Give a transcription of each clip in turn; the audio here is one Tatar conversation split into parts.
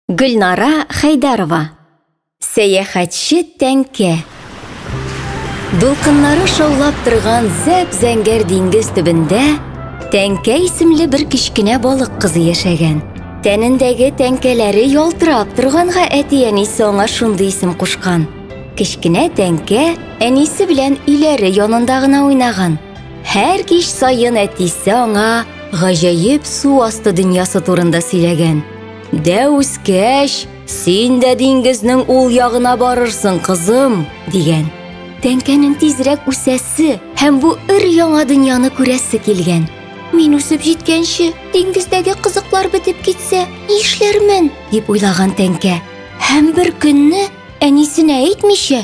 Гөлнара Хәйдәрова. Сәяхәтче тәңкә. Дулкыннары шаулап торган зәп-зәңгәр диңгез төбендә тәңкә исемле бер кечкенә балык кызы яшәгән. Тәнендәге тәңкәләре ялтырап торганга әти-әнисе аңа шундый исем кушкан. Кечкенә тәңкә әнисе белән өйләре янында гына уйнаган. Һәр кич саен әтисе аңа гаҗәеп су асты дөньясы турында сөйләгән. Дә үскәч, син дә диңгезнең ул ягына барырсың, кызым, дигән. Тәңкәнең тизрәк үсәсе һәм бу өр яңа дөньяны күрәсе килгән. Мин үсеп җиткәнче, диңгездәге кызыклар бетеп китсә, ни эшләрмен? дип уйлаган тәңкә. Һәм бер көнне әнисенә әйтмичә,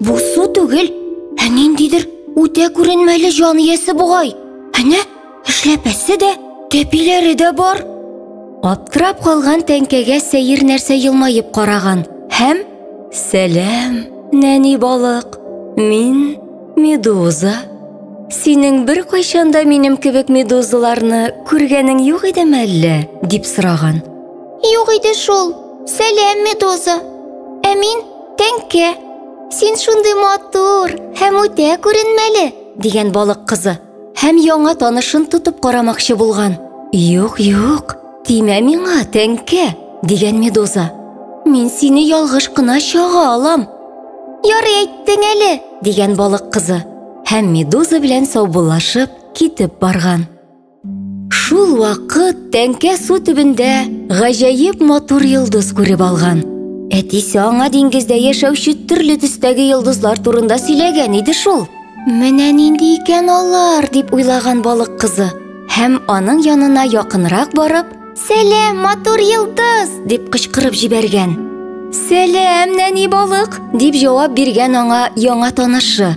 Бу су түгел, ә ниндидер үтә күренмәле җан иясе бугай. Әнә, эшләпәсе дә, тәпиләре дә бар. Аптырап калган тәңкәгә сәер нәрсә елмаеп караган һәм Сәлам, нәни балык. Мин медуза. Синең бер кайчанда минем кебек медузаларны күргәнең юк идеме әллә? дип сораган. Юк иде шул. Сәлам, медуза. Ә мин Тәңке, син шундый матур һәм үтә күренмәле, дигән балык кызы. Һәм яңа танышын тотып карамакчы булган. Юк, юк, тимә миңа, тәңке, дигән медуза. Мин сине ялгыш кына чага алам. Ярый әйттең әле, дигән балык кызы. Һәм медуза белән саубуллашып китеп барган. Шул вакыт тәңкә су төбендә гаҗәеп матур йолдыз күреп алган. Әтисе аңа диңгездә яшәүче төрле төстәге йолдызлар турында сөйләгән иде шул. Менә нинди икән алар, дип уйлаган балык кызы һәм аның янына якынрак барып, "Сәлам, матур йолдыз!" дип кычкырып җибәргән. "Сәлам, нәни балык!" дип җавап биргән аңа яңа танышы.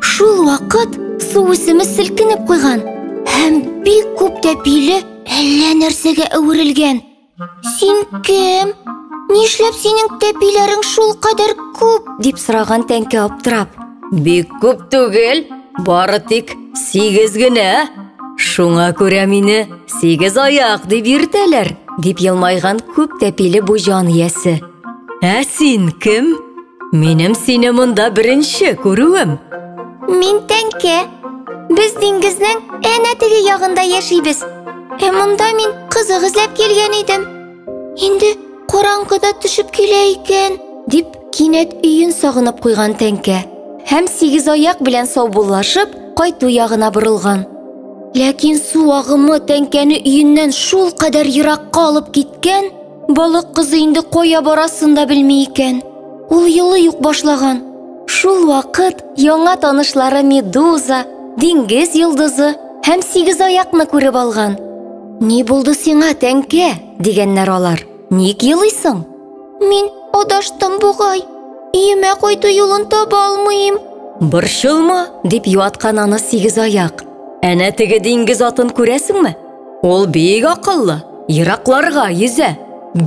Шул вакыт су үсеме селкенеп куйган һәм бик күп тәпиле әллә нәрсәгә әверелгән. Син кем? Нишләп синең тәпиләрең шул кадәр күп? дип сораган тәңкә аптырап. Бик күп түгел, бары тик сигез генә. Шуңа күрә мине сигез аяк дип йөртәләр, дип елмайган күп тәпиле бу җан иясе. Ә син кем? Минем сине монда беренче күрүем. Мин тәңке. Без диңгезнең әнә теге ягында яшибез. Ә монда мин кызык эзләп килгән идем. Инде караңгыда төшеп килә икән, дип кинәт өен сагынып куйган тәңкә. Һәм сигез аяк белән саубуллашып, кайту ягына борылган. Ләкин су агымы тәңкәне өеннән шул кадәр еракка алып киткән, Балык кызы инде кая барасын да белми икән. Ул елы юк башлаган. Шул вакыт яңа танышлары Медуза, диңгез йолдызы һәм сигез аякны күреп алган. Ни булды сиңа, тәңкә? дигәннәр алар. Ник елыйсың? Мин адаштым бугай. Иемә кайту юлын таба алмыйм. Борчылма, дип юаткан аны сигез аяк. Әнә теге диңгез атын күрәсеңме? Ул бик акыллы, еракларга йөзә,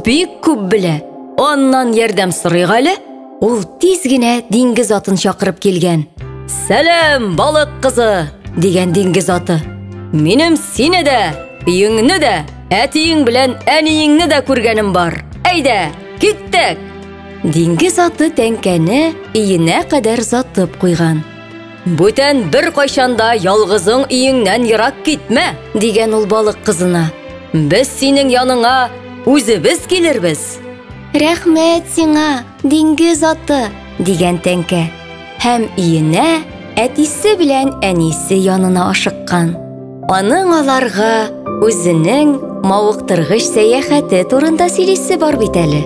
бик күп белә. Аннан ярдәм сорыйк әле. Ул тиз генә диңгез атын чакырып килгән. Сәлам, балык кызы, дигән диңгез аты. Минем сине дә, өеңне дә, әтиең белән әниеңне дә күргәнем бар. Әйдә, киттек! Диңгез аты тәңкәне өенә кадәр затып куйган. Бүтән бер кайчанда ялгызың өеңнән ерак китмә, дигән ул балык кызына. Без синең яныңа үзебез килербез. Рәхмәт сиңа, диңгез аты, дигән тәңкә. Һәм иенә әтисе белән әнисе янына ашыккан. Аның аларга үзенең мавыктыргыч сәяхәте турында сөйлисе бар бит әле.